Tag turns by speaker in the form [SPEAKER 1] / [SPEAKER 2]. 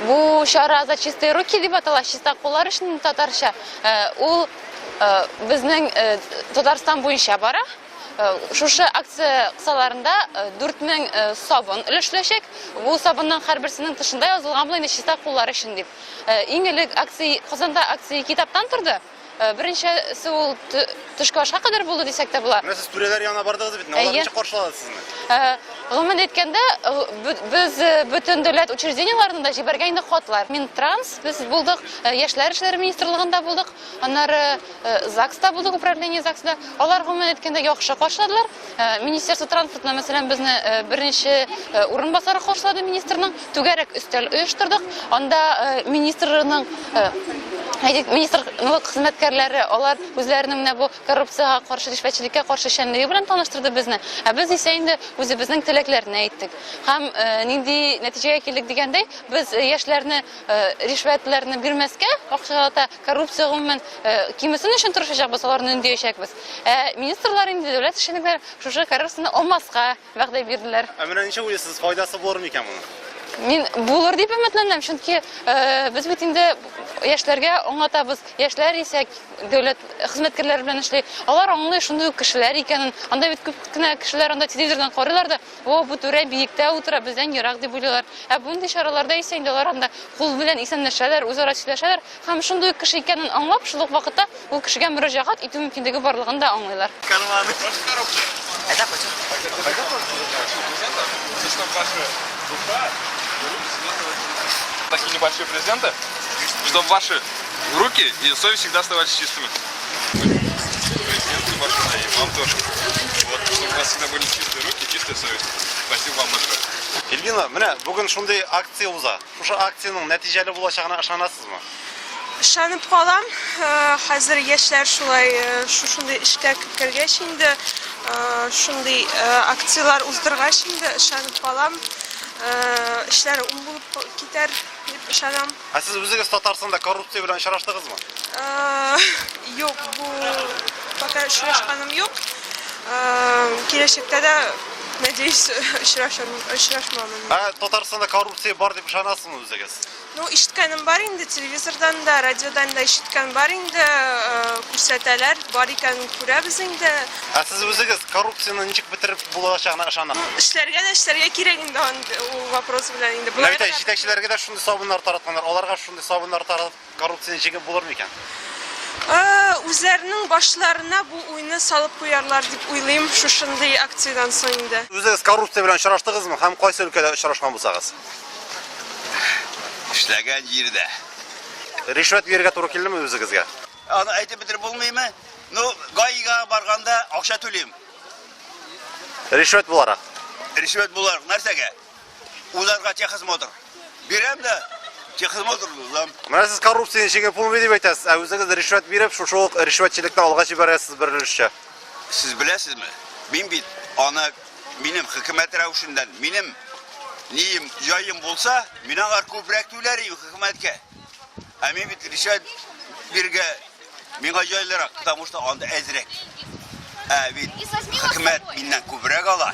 [SPEAKER 1] Бу чара за чистые руки дип атала, чиста куллар өчен татарча. Э, ул э, безнең э, Татарстан буенча бара. Шушы акция кысаларында 4000 сабын өлешләчәк. Бу сабынның һәрберсенең тышында язылган булган чиста куллар өчен дип. Иң элек акция Казанда акция китаптан торды. Э, беренчесе ул төшке ашка кадәр булды дисәк тә була. Менә сез түрәләр янына бардыгыз
[SPEAKER 2] бит, алар ничек каршылады сезне? Э, гомумән әйткәндә,
[SPEAKER 1] э, без бөтен дәүләт учреждениеләренә дә җибәргән инде хатлар. Мин транс, без булдык, яшьләр эшләре министрлыгында булдык, аннары ЗАГСта булдык, управление ЗАГСта. Алар гомумән әйткәндә яхшы каршыладылар. Э, министерство транспортына мәсәлән безне э, беренче э, урынбасары каршылады министрның түгәрәк өстәл оештырдык анда министрның министрлык хезмәткәрләре алар үзләренең менә бу коррупциягә каршы ришвәтчелеккә каршы эшчәнлеге белән таныштырды безне ә без исә инде үзебезнең теләкләрне әйттек һәм нинди нәтиҗәгә килдек дигәндәй без яшьләрне ришвәтләрне бирмәскә акчалата Коррупция гомумән кимесен өчен тырышачакбыз, аларны өндиячәкбез. Ә министрлар инде, дәүләт эшчәнекләре шушы коррупцияне алмаска вәгъдә бирделәр. Ә менә ничек уйлыйсыз,
[SPEAKER 2] файдасы булыр микән моның? Мин булыр
[SPEAKER 1] дип өметләнәм, чөнки без бит инде яшьләргә аңлатабыз, яшьләр исә дәүләт хезмәткәрләре белән эшли, алар аңлый шундый ук кешеләр икәнен, анда бит күп кенә кешеләр анда телевизордан карыйлар да, О, бу түрә биектә утыра, бездән ерак, дип уйлыйлар. Ә бундый чараларда исә инде алар анда кул белән исәнләшәләр, үзара сөйләшәләр һәм шундый ук кеше икәнен аңлап, шул ук вакытта ул кешегә мөрәҗәгать итү мөмкинлеге барлыгын да аңлыйлар. Карманы. Әйдә, кайтыйк. Кайда барасыз? Чисто ваши душа, руки
[SPEAKER 3] светлого тела. Такие небольшие презенты, чтоб ваши руки и совесть всегда оставались чистыми. Президенты машина и вам тоже. Вот, чтобы у вас всегда были чистые руки, чистая совесть. Спасибо вам большое. Ильгина, менә
[SPEAKER 2] бүген шундый акция уза. Шушы акциянең нәтиҗәле булачагына ышанасызмы? Ышанып
[SPEAKER 4] калам. Э, хәзер яшьләр шулай э, шушындый эшкә кергәч инде, э, шундый акцияләр уздыргач инде ышанып калам. Эшләр уң булып китәр дип ышанам. Ә сез үзегез
[SPEAKER 2] Татарстанда коррупция белән очраштыгызмы?
[SPEAKER 4] Э, Юк, бу пока очрашканым юк. Э, Киләчәктә дә, надеюсь, очрашам- очрашмамын. Ә Татарстанда
[SPEAKER 2] коррупция бар дип ышанасызмы үзегез? Ну, ишеткәнем
[SPEAKER 4] бар инде, телевизордан да, радиодан да ишеткән бар инде, э, күрсәтәләр, бар икәнен күрәбез инде. Ә сез үзегез
[SPEAKER 2] коррупцияне ничек бетереп булачагына ышанасыз? Ну, эшләргә дә эшләргә кирәк
[SPEAKER 4] инде ан- ул вопрос белән инде. Менә Болай бит гына- җитәкчеләргә дә
[SPEAKER 2] шундый Сабыннар таратканнар, аларга шундый сабыннар таратып коррупцияне җиңеп булыр микән? Үзләренең
[SPEAKER 4] башларына бу уйны салып куярлар дип уйлыйм шушындый акциядән соң инде. Үзегез коррупция белән
[SPEAKER 2] очраштыгызмы һәм кайсы өлкәдә очрашкан булсагыз?
[SPEAKER 5] Эшләгән җирдә. Ришвәт
[SPEAKER 2] бирергә туры килдеме үзегезгә? Аны әйтеп бетереп
[SPEAKER 5] булмыймы? Ну, гаига барганда акча түлим.
[SPEAKER 2] Ришвәт буларак. Ришвәт буларак
[SPEAKER 5] нәрсәгә? Уларга техосмотр. Бирәм дә техосмотр узам. Менә сез коррупция
[SPEAKER 2] ничек булмый дип әйтәсез, ә үзегез ришвәт биреп, шушы ук ришвәтчелекне алга җибәрәсез бер өлешчә. Сез беләсезме?
[SPEAKER 5] Мин бит аны минем хөкүмәт рәвешеннән, минем нием, җаем булса, мин алар күбрәк түләр идем хөкүмәткә. Ә мин бит ришвәт биргә Миңа җайлырак, потому что анда әзрәк. Ә бит хөкүмәт миннән күбрәк ала.